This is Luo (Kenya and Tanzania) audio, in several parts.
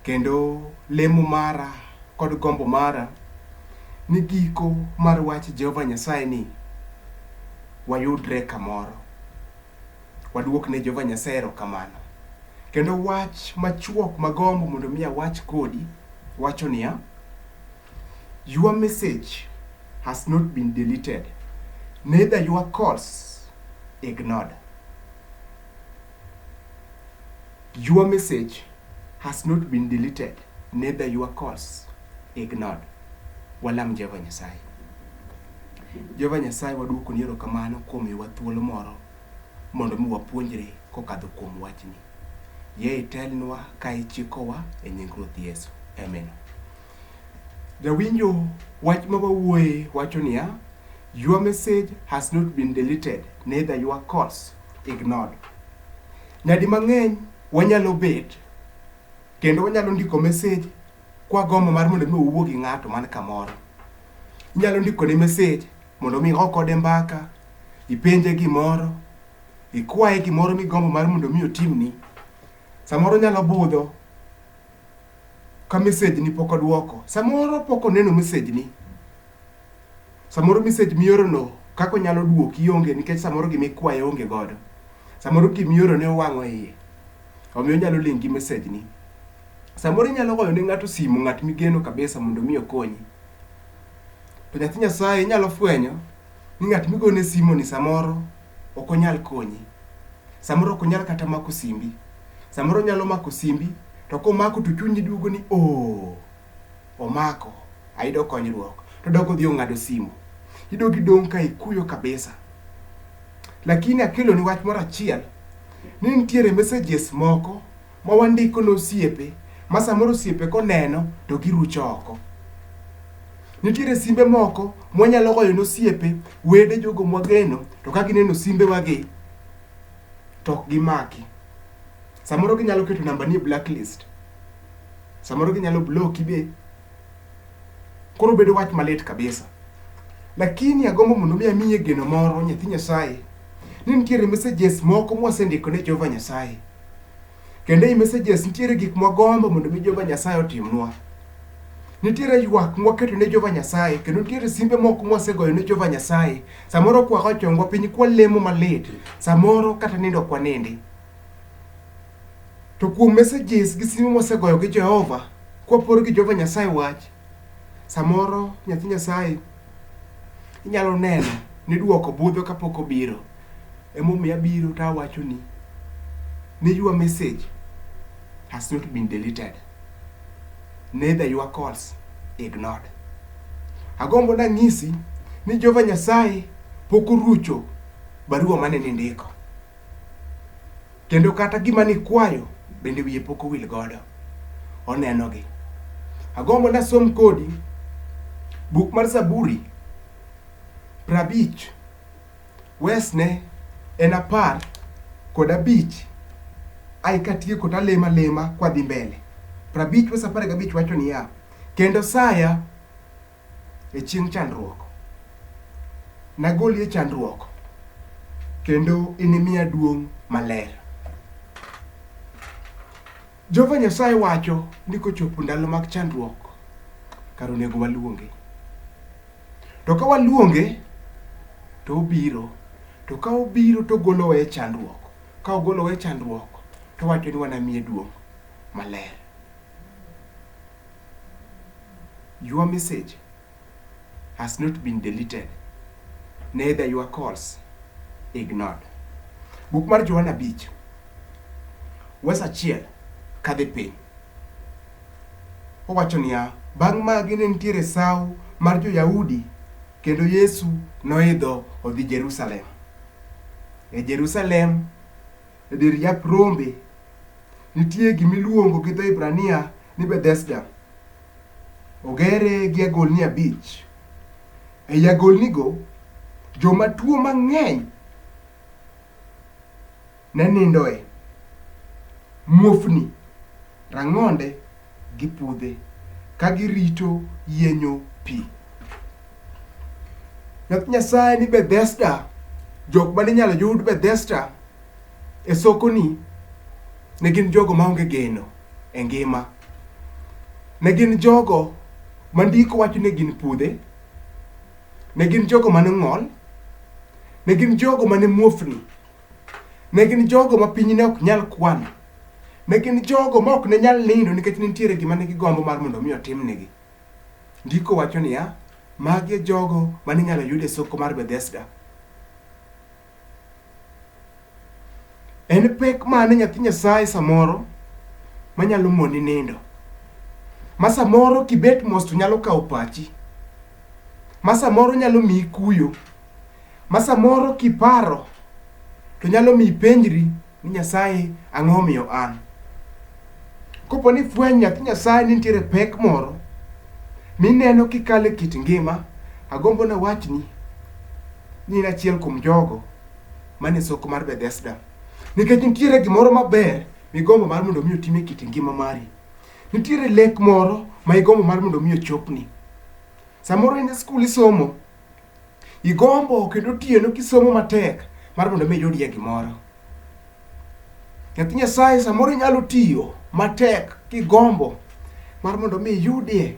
Kendo lemo mara kod gombo mara ni giko mar wach Jehova Nyasaye ni wayudre kamoro, waduok ne Jehova Nyasaye erokamano. Kendo wach machuok magombo mondo mi awach kodi wacho niya, your message has not been deleted, neither your calls ignored. Your message has not been deleted, neither your calls ignored. Walam Jehova Nyasaye. Jehova Nyasaye waduoko ni erokamano kuom miyowa thuolo moro mondo mi wapuonjre kokadho kuom wachni. Yie itelnwa ka ichikowa e nying Ruoth Yesu. Amen. Jawinjo wach ma wawuoye wacho niya, Your message has not been deleted, neither your calls ignored. Nyadi mang'eny wanyalo bet kendo wanyalo ndiko message kwa gombo mar mondo mi owuo gi ng'ato man kamoro. Inyalo ndiko ne message mondo mi okode mbaka, ipenje gimoro, ikwaye gimoro migombo mar mondo mi otimni. Samoro nyalo budho ka message ni pok odwoko. Samoro pok oneno message ni. Samoro message miorono kaka onyalo duoki onge nikech samoro gima ikwaye onge godo. Samoro gima iorone owang'o iye. Omiyo onyalo ling' gi message ni. Samoro inyalo goyo ne ng'ato simu, ng'at migeno kabisa mondo mi okonyi. To nyathi Nyasaye inyalo fwenyo ni ng'at migone simu ni samoro ok onyal konyi. Samoro ok onyal kata mako simbi. Samoro onyalo mako simbi to komako to chunyi duogo ni oh. Omako, ayudo konyruok. To dok odhi ong'ado simu. Idog idong' ka ikuyo kabisa. Lakini akelo ni wach moro achiel ni nitiere messages moko ma wandiko ne osiepe ma samoro osiepe koneno to girucho oko. Nitiere simbe moko mwanyalo goyo ne osiepe, wede jogo mwageno to ka gineno simbe wagi to ok gimaki. Samoro ginyalo keto namba ni e blacklist. Samoro ginyalo bloki be. Koro bedo wach malit kabisa. Lakini agombo mondo mi amiye geno moro nyathi Nyasaye ni nitiere messages moko mwasendiko ne Jehova Nyasaye. Kendo ei messages nitiere gik mwagombo mondo mi Jehova Nyasaye otimnwa. Nitiere ywak mwaketo ne Jehova Nyasaye kendo nitiere simbe moko mwasegoyo ne Jehova Nyasaye. Samoro kwako chongwa piny kwalemo malit. Samoro kata nindo kwanindi. To kuom messages gi simo mwasegoyo gi Jehova, kwapor gi Jehova Nyasaye wach, samoro nyathi Nyasaye inyalo neno ni dwoko budho kapok obiro. Emomiyo abiro to awachoni ni your message has not been deleted. Neither your calls ignored. Agombo nang'isi ni Jehova Nyasaye pok orucho barua mane nindiko. Kendo kata gima nikwayo bende wiye pok owil godo. Onenogi. Agombo nasom kodi buk mar Zaburi prabich wesne en apar kod abich ai katieko talemo alema kwadhi mbele. Prabich wes apar gabich wacho niya, kendo saya e chieng' chandruok. Nagoli e chandruok kendo inimiya duong' maler. Jehova Nyasaye wacho ni kochopo ndalo mag chandruok, kar onego waluonge. To ka waluonge, to obiro. To ka obiro to ogolowa e chandruok. Ka ogolowa e chandruok, to owacho ni wanamiye duong' maler. Your message has not been deleted, neither your calls ignored. Buk mar Johana abich wes achiel kadhi piny owacho niya, bang' magi ne nitiere sawo mar jo-Yahudi kendo Yesu noidho odhi Jerusalem. E Jerusalem, e dir yap rombe Nitie gima iluongo gi dho Hibrania ni Bethesda. Ogere gi agolni abich. Ei agolnigo, joma tuo mang'eny ne nindoe. Muofni, rang'onde gi pudhe ka girito yienyo pi. Nyath Nyasaye ni Bethesda, jok mane inyalo yud Bethesda E sokoni ne gin jogo maonge geno e ngima. Ne gin jogo ma ndiko wacho ni gin pudhe, ne gin jogo mane ong'ol, ne gin jogo mane muofni, ne gin jogo ma piny ne ok nyal kwano, ne gin jogo ma ok ne nyal nindo nikech ne nitiere gima ne gigombo mar mondo omi otimnegi. Ndiko wacho niya, magi e jogo mane inyalo yud e soko mar Bethesda. En pek mane nyathi Nyasaye samoro manyalo moni nindo? Ma samoro kibet mos to nyalo kawo pachi. Ma samoro nyalo miyi kuyo. Ma samoro kiparo to nyalo miyi ipenjri. ni Nyasaye ang'o omiyo an. Kopo ni fweny nyathi Nyasaye ni nitiere pek moro mineno kikale kit ngima, agombo na wachni ni in achiel kuom jogo mane soko mar Bethesda. Nikech nitiere gimoro maber migombo mar mondo mi otime kit ngima mari. Nitiere lek moro ma igombo mar mondo mi ochopni. Samoro in e skul isomo, Igombo kendo otieno kisomo matek mar mondo mi iyudie gimoro. Nyathi Nyasaye samoro inyalo tiyo matek kigombo mar mondo mi iyudie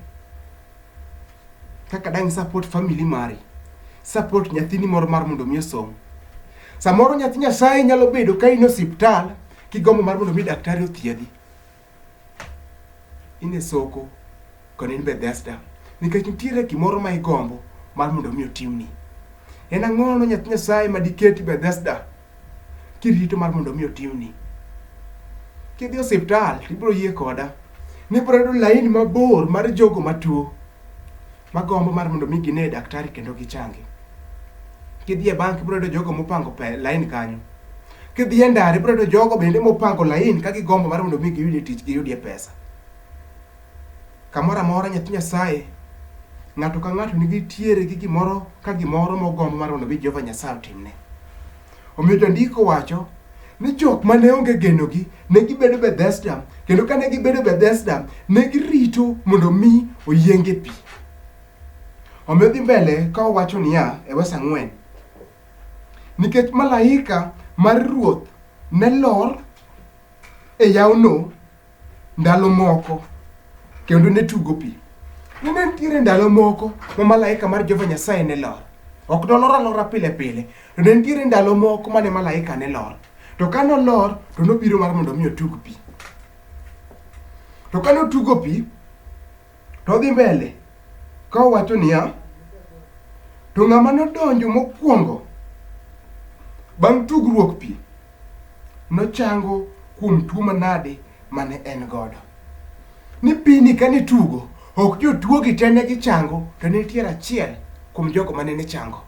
kaka dang' support family mari, support nyathini moro mar mondo mi osom. Samoro nyathi Nyasaye nyalo bedo ka in e osiptal kigombo mar mondo mi daktari othiedhi. in e soko kendo in Bethesda nikech nitiere gimoro ma igombo mar mondo mi otimni. En ang'o no nyathi Nyasaye ma diketi Bethesda kirito mar mondo mi otimni? Kidhi osiptal ibiro yie koda ni ibiro yudo laini mabor mar jogo matuo magombo mar mondo mi gine daktari kendo gichangi. Kidhi e bank ibiro yudo jogo mopango pe lain kanyo. Kidhi e ndara ibiro yudo jogo bende mopango lain ka gigombo mar mondo mi giyudie tich giyudie pesa. Kamoro amora nyathi Nyasaye ng'ato ka ng'ato nigi tiere gi gimoro ka gimoro mogombo mar mondo mi Jehova Nyasaye otimne. Omiyo jandiko wacho ni jok ma ne onge genogi ne gibedo Bethesda, kendo ka ne gibedo Bethesda, ne girito mondo mi oyienge pi. Omiyo dhi mbele ka owacho niya e wes ang'wen, nikech malaika mar Ruoth ne lor e yawno ndalo moko kendo ne tugo pi. Ne ne nitiere ndalo moko ma malaika mar Jehova Nyasaye ne lor. Ok nolor alora pile pile, to ne nitiere ndalo moko mane malaika ne lor. To ka nolor, to nobiro mar mondo mi otug pi. To ka notugo pi, To odhi mbele ka owacho niya, to ng'ama nodonjo mokwongo bang' tugruok pi nochango kuom tuo manade mane en godo. Ni pini ka nitugo, ok jotuo gi te ne gichango, to ne nitiere achiel kuom jogo mane ne chango.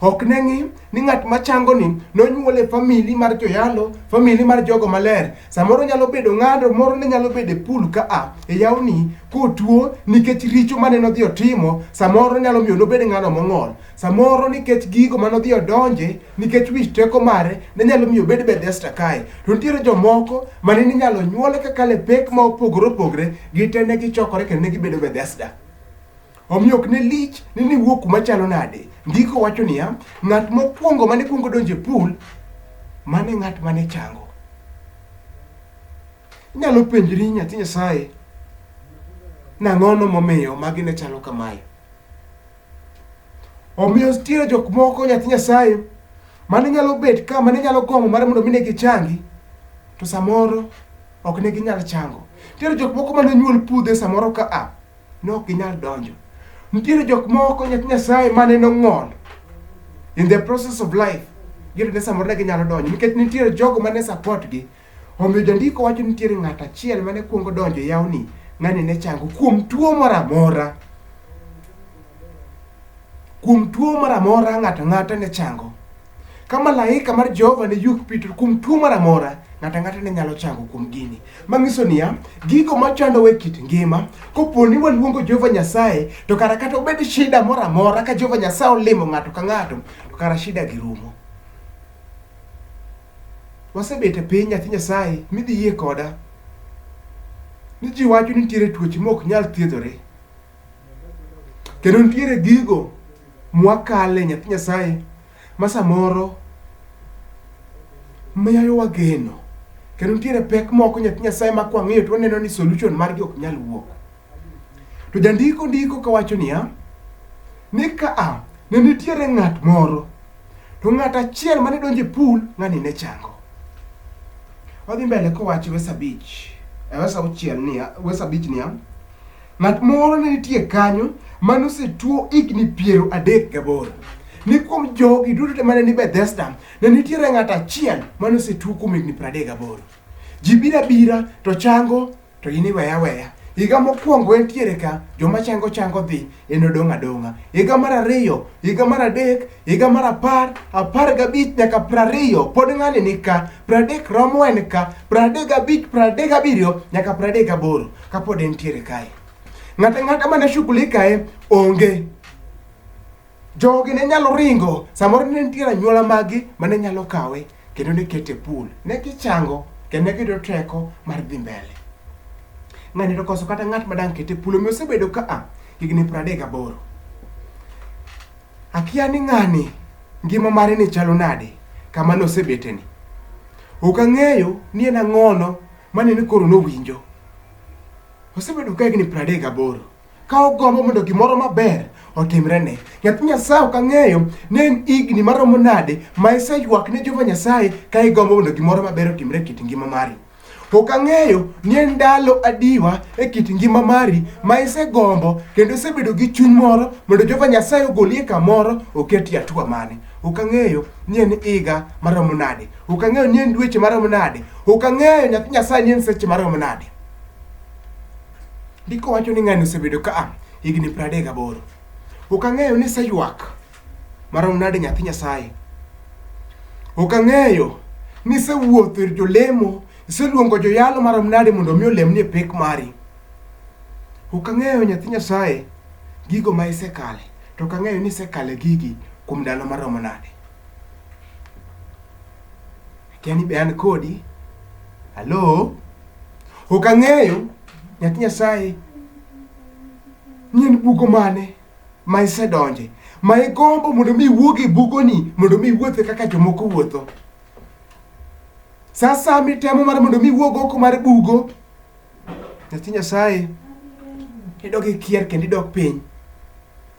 Ok ne ng'i ni ng'at ma changoni nonyuol e famili mar joyalo, famili mar jogo maler. Samoro nyalo bedo ng'ado moro ne nyalo bedo e pul ka a e yawni kotuo nikech richo mane nodhi otimo, samoro nyalo miyo nobed ng'ano mong'ol. Samoro nikech gigo mane odhi odonje, nikech wich teko mare, ne nyalo miyo obed Bethesda kae. To nitiere jomoko mane ninyalo nyuol kakalo e pek ma opogore opogre, gite ne gichokore kendo ne gibedo Bethesda. Omiyo ok ne lich ni niwuok kuma chalo nade. Ndiko wacho niya, ng'at mokwongo mane kwongo donjo e pool, mane ng'at mane chango. Inyalo penjri nyathi Nyasaye, nang'ono momiyo magi ne chalo kamae. Omiyo nitiere jok moko nyathi Nyasaye mane nyalo bet ka mane nyalo gombo mar mondo mi ne gichangi to samoro ok ne ginyal chango. Nitiere jok moko mane nyuol pudhe samoro ka a ne ok ginyal donjo. Nitiere jok moko nyathi Nyasaye mane nong'ol in the process of life giyudo ni samoro ne ginyalo donjo nikech nitiere jogo mane support gi omiyo jandiko wacho ni nitiere ng'at achiel mane kuongo donjo e yawni ng'ani ne chango kuom tuo moro amora kuom tuo moro amora ng'ato ang'ata ne chango Ka malaika mar Jehova ne yuk Petro kuom tuo moro amora, ng'ato ang'ata ne nyalo chango kuom gini. Mang'iso niya, gigo machandowa e kit ngima, kopo ni waluongo Jehova Nyasaye, to kara kata obed shida moro amora, ka Jehova Nyasaye olimo ng'ato ka ng'ato, to kara shida gi rumo. Wasebet e piny nyathi Nyasaye, midhi yie koda ni ji wacho ni nitiere tuoche mok nyal thiedhore. Kendo nitiere gigo mwakale nyathi Nyasaye ma samoro miyo wageno. Kendo nitiere pek moko nyathi Nyasaye ma kwang'iyo to waneno ni solution margi ok nyal wuok. To jandiko ndiko kawacho niya, ni ka a ne nitiere ng'at moro to ng'at achiel mane donjo e pool ng'ani ne chango. Wadhi mbele kowacho verse abich, eh, verse auchiel niya, verse abich niya, Ng'at moro ne nitie kanyo mane osetuo higni piero adek gaboro. Ni kuom jogi duto te mane ni Bethesda, ne nitiere ng'at achiel mane osetuo kuom higni piero adek gaboro. Ji bira bira to chango to in iweya weya. Higa mokwongo entiere ka, joma chango chango dhi, en odong' adong'a. Higa mar ariyo, higa mar adek, higa mar apar, apar gabich nyaka piero ariyo, pod ng'ani ni ka. Piero adek romo en ka, piero adek gabich, piero adek gabiriyo nyaka piero adek gaboro. kapod entiere kae ng'ata ng'ata mane shughuli kae onge jogi ne nyalo ringo samoro ne nitiere anyuola magi mane nyalo kawe kendo ne kete pool ne gichango kendo ne giyudo teko mar dhi mbele ng'ani to koso kata ng'at madang' kete pool omiyo osebedo ka a higni pradek gaboro akia ni ng'ani ngima mare ni chalo nade kama nosebeteni ok ang'eyo ni en ang'ono Mane ni koro nowinjo. Osebedo ka higni piero adek gaboro ka ogombo mondo gimoro maber otimrene. Nyathi Nyasaye ok ang'eyo ni en higni maromo nade ma iseywak ne Jehova Nyasaye ka igombo mondo gimoro maber otimre e kit ngima mari. Ok ang'eyo ni en ndalo adiwa e kit ngima mari ma isegombo kendo isebedo gi chuny moro mondo Jehova Nyasaye ogoli e kamoro oketi e atua mane. Ok ang'eyo ni en higa maromo nade. Ok ang'eyo ni en dweche marom nade. Ok ang'eyo nyathi Nyasaye ni en seche marom nade. Ndiko wacho ni ng'ani osebedo ka ah, higni pradek aboro. Ok ang'eyo ni seywak marom nade nyathi Nyasaye. Ok ang'eyo ni sewuotho ir jolemo, iseluongo joyalo marom nade mondo mi olemni e pek mari. Ok ang'eyo nyathi Nyasaye gigo ma isekale, to ok ang'eyo ni isekale gigi kuom ndalo maromo nade. Akia ni be an kodi. Halo? Ok ang'eyo nyathi Nyasaye ni en bugo mane ma isedonje ma igombo mondo mi iwuog e bugoni mondo mi iwuothe kaka jomoko wuotho. Sasa mitemo mar mondo mi iwuog oko mar bugo Nyathi Nyasaye idok ikier kendo idok piny.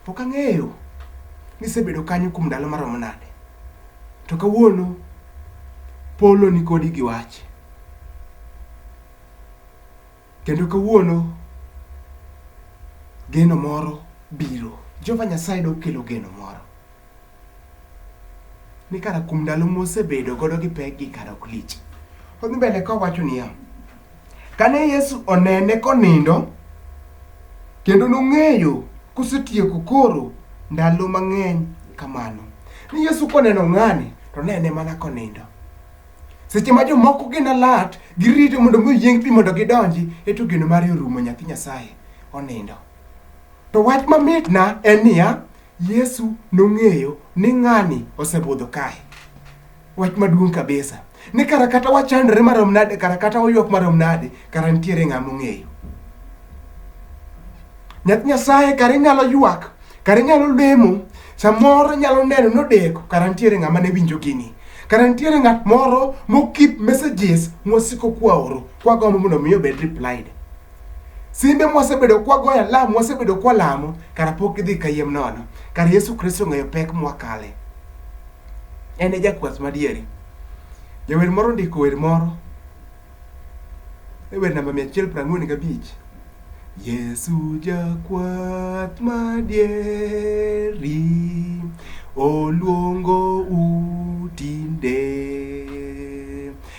Ok ang'eyo ni isebedo kanyo kuom ndalo maromo nade. To kawuono polo ni kodi gi wach. Kendo kawuono geno moro biro. Jehova Nyasaye dok kelo geno moro. ni kara kuom ndalo mosebedo godo gi pekgi kara ok lich. Odhi mbele kowacho niya, kane Yesu onene konindo kendo nong'eyo kosetieko koro ndalo mang'eny kamano. Ni Yesu koneno ng'ani to nene mana konindo. Seche ma jomoko gin alert, girito mondo mi oyieng pi mondo gidonji, eto geno mare orumo nyathi Nyasaye onindo. To wach mamitna en niya, Yesu nong'eyo ni ng'ani osebudho kae. Wach maduong' kabisa. Ni kara kata wachandre marom nade, kara kata waywak marom nade, kara nitiere ng'a mong'eyo. Nyath Nyasaye kara inyalo ywak, kara inyalo lemo, samoro inyalo neno nodeko, kara nitiere ng'a mane winjo gini. Kara nitiere ng'at moro mokip messages mwasiko kwaoro, kwagombo mondo mi obed replied. Simbe mwasebedo kwagoyo alam, mwasebedo kwalamo, kara pok gidhi kayiem nono. Kara Yesu Kristo ong'eyo pek mwakale. En e jakwath madieri. Jawer moro ondiko wer moro e wer namba 145. Yesu jakwath madieri oluongo u tinde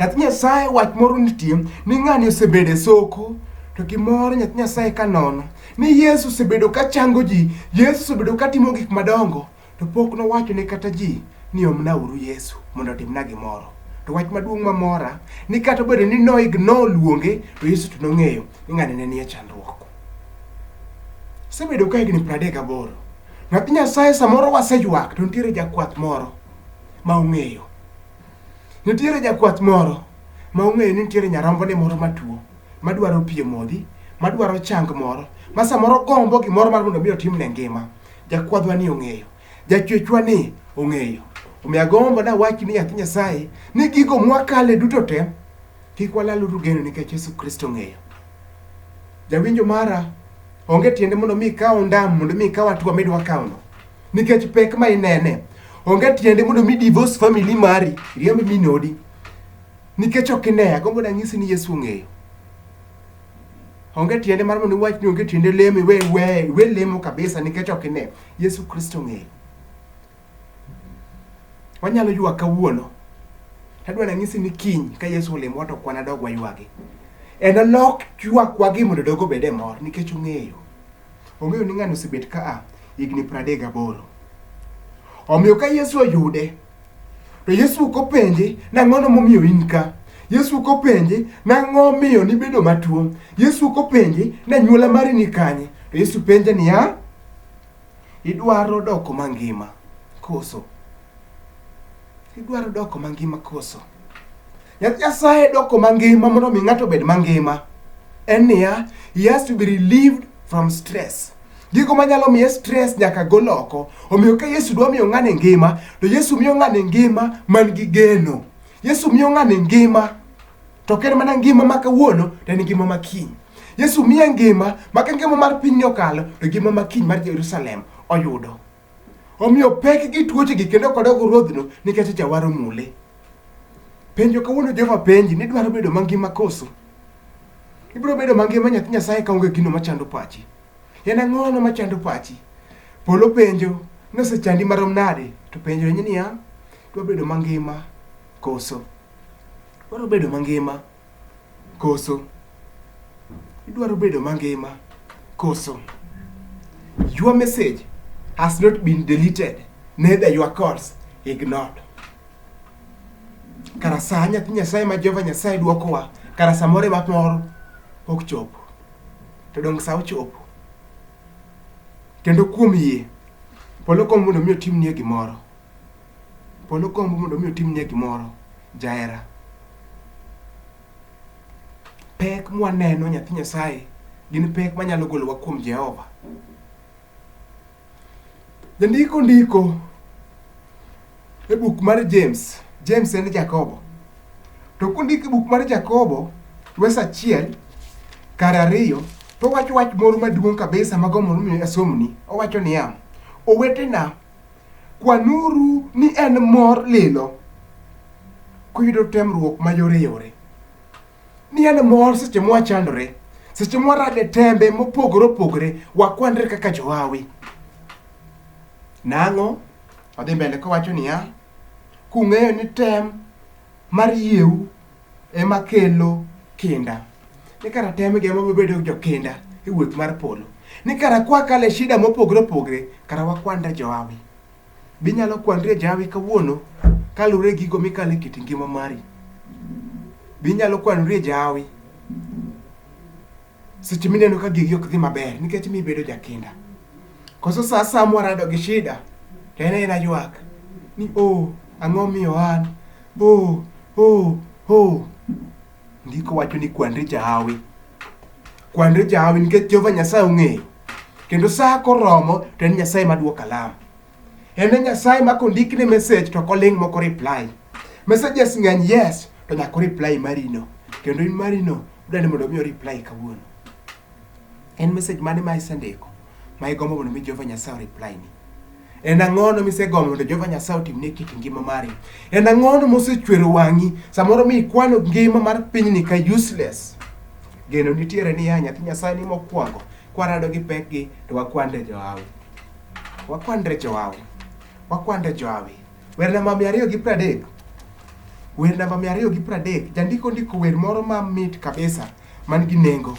Nyathi Nyasaye wach moro nitie ni ng'ani osebedo e soko to gimoro nyathi Nyasaye ka nono ni Yesu osebedo ka chango ji, Yesu osebedo ka timo gik madongo to pok nowacho ne kata ji ni omnauru Yesu mondo otimna gimoro. To wach maduong' mamora ni kata obedo ni no ignore luonge to Yesu to nong'eyo ni ng'ani ne nie chandruok. Osebedo ka higni 38. Nyathi Nyasaye samoro waseywak to nitiere jakwath moro ma ong'eyo Nitiere jakwath moro ma ong'eyo ni nitiere nyarombone moro matuo madwaro pi e modhi, madwaro chang moro, ma samoro gombo gimoro mar mondo mi otimne ngima. Jakwadhwa ni ong'eyo, jachwechwa ni ong'eyo. Omiyo agombo nawach ni nyathi Nyasaye ni gigo mwakale duto te kik walaluru geno nikech Yesu Kristo ong'eyo. Jawinjo mara, onge tiende mondo mi ikaw ondam mondo mi ikaw atua midwa kawno. nikech pek ma inene onge tiende mondo mi divorce family mari riemb minodi nikech ok ine agombo nanyisi ni yesu ong'eyo onge tiende mar mondo iwach ni onge tiende lemo iwe iwe iwe lemo kabisa nikech ok ine yesu kristo ong'eyo wanyalo ywak kawuono tadwa nanyisi ni kiny ka yesu olemo to kwana dog waywagi en olok ywakwa gi mondo dogo bede mor nikech ong'eyo Ong'eyo ni ng'ani osebet ka a higni pradek gaboro. Omiyo ka Yesu oyude, to Yesu ok openje nang'ono momiyo in ka. Yesu ok openje nang'o miyo nibedo matuo. Yesu ok openje na nyuola mari ni kanye. To Yesu penje niya, idwaro doko mangima koso? Idwaro doko mangima koso? Yath Nyasaye doko mangima mondo mi ng'ato obed mangima en niya, he has to be relieved from stress. Gigo manyalo miye stress nyaka gol oko. Omiyo ka Yesu dwa miyo ng'ani ngima, to Yesu miyo ng'ani ngima man gi geno. Yesu miyo ng'ani ngima to ok en mana ngima ma kawuono to en ngima ma kiny. Yesu miye ngima ma ka ngima mar pinyni okalo to ngima ma kiny mar Jerusalem oyudo. Omiyo pek gi tuochegi kendo kodok ruodhno nikech jawar omule. Penjo kawuono Jehova penji ni dwaro bedo mangima koso? Ibiro bedo mangima nyathi Nyasaye kaonge gino machando pachi. En ang'ono machando pachi? Polo penjo ni osechandi marom nade to penjo ni niya, dwa bedo mangima koso? Dwaro bedo mangima. koso? Idwaro bedo mangima koso? Your message has not been deleted, neither your calls ignored. Kara saa nyathi Nyasaye ma Jehova Nyasaye dwokowa, kara samoro ema moro ok chopo. To donge sa ochopo? Kendo kuom yie, polo kom mondo mi otimnie gimoro. Polo gombo mondo mi otimnie gimoro jahera. Pek mwaneno nyathi Nyasaye gin pek manyalo golowa kuom Jehova. Jandiko ndiko e buk mar James, James en Jakobo. To kundiko e buk mar Jakobo, wes achiel kar ariyo, to owacho wach moro maduong' kabisa mago mondo mi asomni. Owacho niya, owetena Kwanuru ni en mor lilo kuyudo temruok mayoreyore, ni en mor seche mwachandore, seche mwarade tembe mopogore opogore, wakwanre kaka johawi. Nang'o? Odhi mbele kowacho niya, kung'eyo ni tem mar yieu ema kelo kinda ni kara temgi ema wabedo jokinda e wuoth mar polo ni kara kwakale shida mopogre opogre kara wakwanda joawi binyalo kwandre jawi kawuono kaluwre gigo mikale kit ngima mari binyalo kwanore jawi seche mineno ka gigi ok dhi maber nikech mibedo jakinda koso sa asaya mwarado gi shida to en ena ywak ni o ang'o miyo an Oh, oh, oh. Ndiko wacho ni kwanri jahawi. Kwanri jahawi nikech Jehova Nyasaye ong'eyo. Kendo sa koromo to en Nyasaye maduoko alam. En e Nyasaye ma kondikne message to koling' moko reply. Messages ng'eny yes to nyaka reply marino. Kendo in marino dwani mondo mi reply kawuono. En message mane ma isendiko? ma igombo mondo mi Jehova Nyasaye oreply ni? En ang'ono misegombo mondo Jehova Nyasaye otimni e kit ngima mari? En ang'ono mosechwero wang'i samoro mi ikwano ngima mar pinyni ka useless? Geno nitiere ni ya nyathi Nyasaye ni mokwongo kwarado gi pekgi to wakwande johawi. Wakwande johawi. Wakwande johawi. Wer namba mia ariyo gi pradek. Wer namba mia ariyo gi pradek. Jandiko ndiko wer moro mamit kabisa man gi nengo.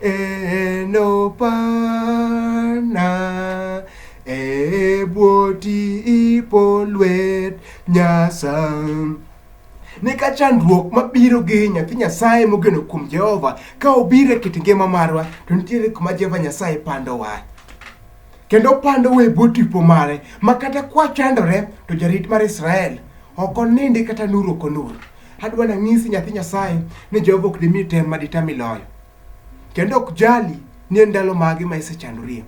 enopana ebwoti ipo lwet nyasam ne ka chandruok mabiro gi nyathi nyasaye mogeno kuom jehova ka obiro e kit ngima marwa to nitiere kuma jehova nyasaye pandowa kendo opandowa e bwo tipo mare ma kata kwachandore to jarit mar israel ok onindi kata nur ok onur Adwa nanyisi nyathi Nyasaye ni Jehova ok dimi tem ma ditami loyo. Kendo ok jali ni en ndalo mage ma isechandorie.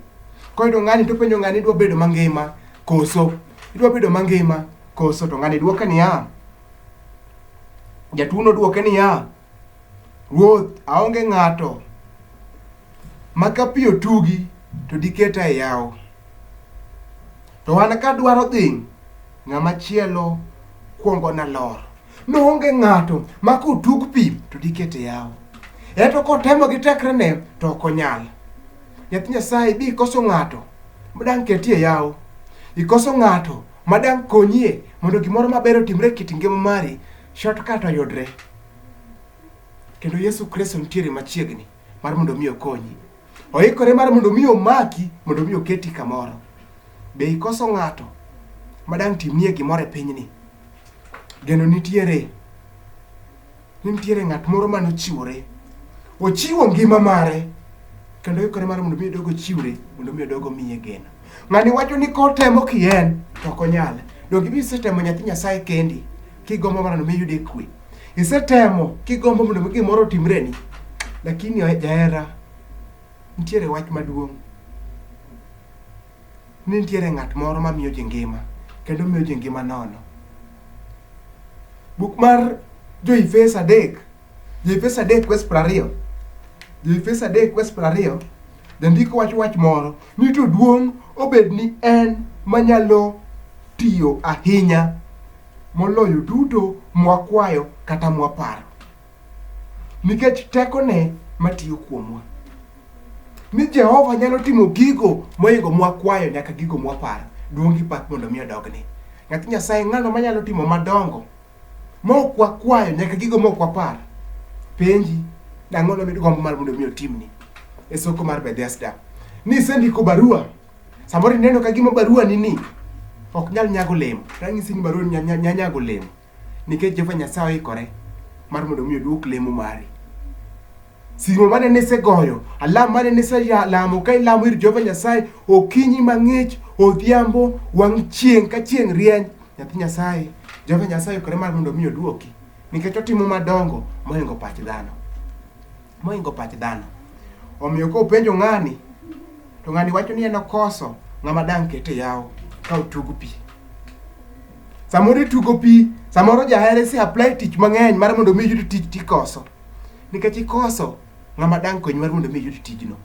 Koyudo ng'ani to penjo ng'ani idwa bedo mangima koso? Idwa bedo mangima koso? To ng'ani dwoke niya, jatuono dwoke niya, Ruoth, aonge ng'ato ma ka pi otugi to diketa e yawo. To an ka dwaro dhi, ng'ama chielo kuongo na lor. Noonge ng'ato ma kotug pi to dikete yawo. Eto kotemo gi tekrene to ok onyal. Nyathi Nyasaye bi ikoso ng'ato ma dang' ketie yawo. Ikoso ng'ato ma dang' konyie mondo gimoro maber otimre e kit ngima mari, shortcut oyudre. Kendo Yesu Kristo nitiere machiegni. mar mondo mi okonyi. Oikore mar mondo mi omaki, mondo mi oketi kamoro. Be ikoso ng'ato ma dang' timnie gimoro e pinyni? Geno nitiere. Nitiere ng'at moro ma nochiwore. Ochiwo ngima mare kendo oikore mar mondo mi odog ochiwre, mondo mi odog omiye geno. Ng'ani wacho ni kotemo kien to ok onyal. Donge ibi isetemo nyathi Nyasaye kendi Kigombo mondo mi iyude kwe. Isetemo kigombo mondo mi gimoro otimreni. Lakini oe- jahera nitiere wach maduong' ni nitiere ng'at moro mamiyo ji ngima kendo miyo ji ngima nono. Buk mar Jo-Efeso adek, Jo-Efeso adek wes piero ariyo, Jo-Efeso adek wes piero ariyo, jandiko wacho wach moro ni to duong' obed ni en manyalo tiyo ahinya moloyo duto mwakwayo kata mwaparo, nikech tekone matiyo kuomwa. Ni Jehova nyalo timo gigo moingo mwakwayo nyaka gigo mwaparo. Duong' gi pak mondo mi odogne. Nyathi Nyasaye ng'ano manyalo timo madongo mok wakwayo nyaka gigo mok waparo. Penji, nang'o nomid gombo mar mondo mi otimni? E soko mar Bethesda. Nisendiko barua Samoro ineno ka gima barua ni ni ok nyal nyago olemo. Ranyisi ni barua nya, nya, nya nyago olemo nikech Jehova Nyasaye oikore mar mondo mi oduok lemo mari. Simo mane nisegoyo, alam mane niselamo ka ilamo ir Jehova Nyasaye okinyi mang'ich, odhiambo, wang' chieng' ka chieng' rieny. Nyathi Nyasaye, Jehova Nyasaye oikore mar mondo mi oduoki nikech otimo madongo mohingo pach dhano. moingo pach dhano. Omiyo ka openjo ng'ani, to ng'ani wacho ni en okoso ng'ama dang' kete yawo ka otug pi. Samoro itugo pi, samoro jahere si apply tich mang'eny mar mondo mi iyud tich tikoso. Nikech ikoso ng'ama dang' konyi mar mondo mi iyud tijno.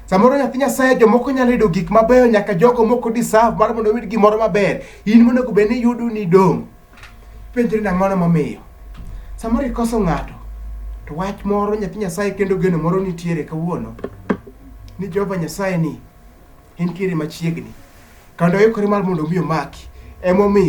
Samoro nyathi Nyasaye jomoko nyalo yudo gik mabeyo nyaka jogo moko deserve mar mondo oyud gimoro maber. In monego bed ni yudo ni idong'. Penjri ni ang'ono momiyo. Samoro ikoso ng'ato, to wach moro nyathi Nyasaye kendo geno moro nitiere kawuono ni Jehova Nyasaye ni entiere machiegni kendo oikore mar mondo omi omaki emomiyo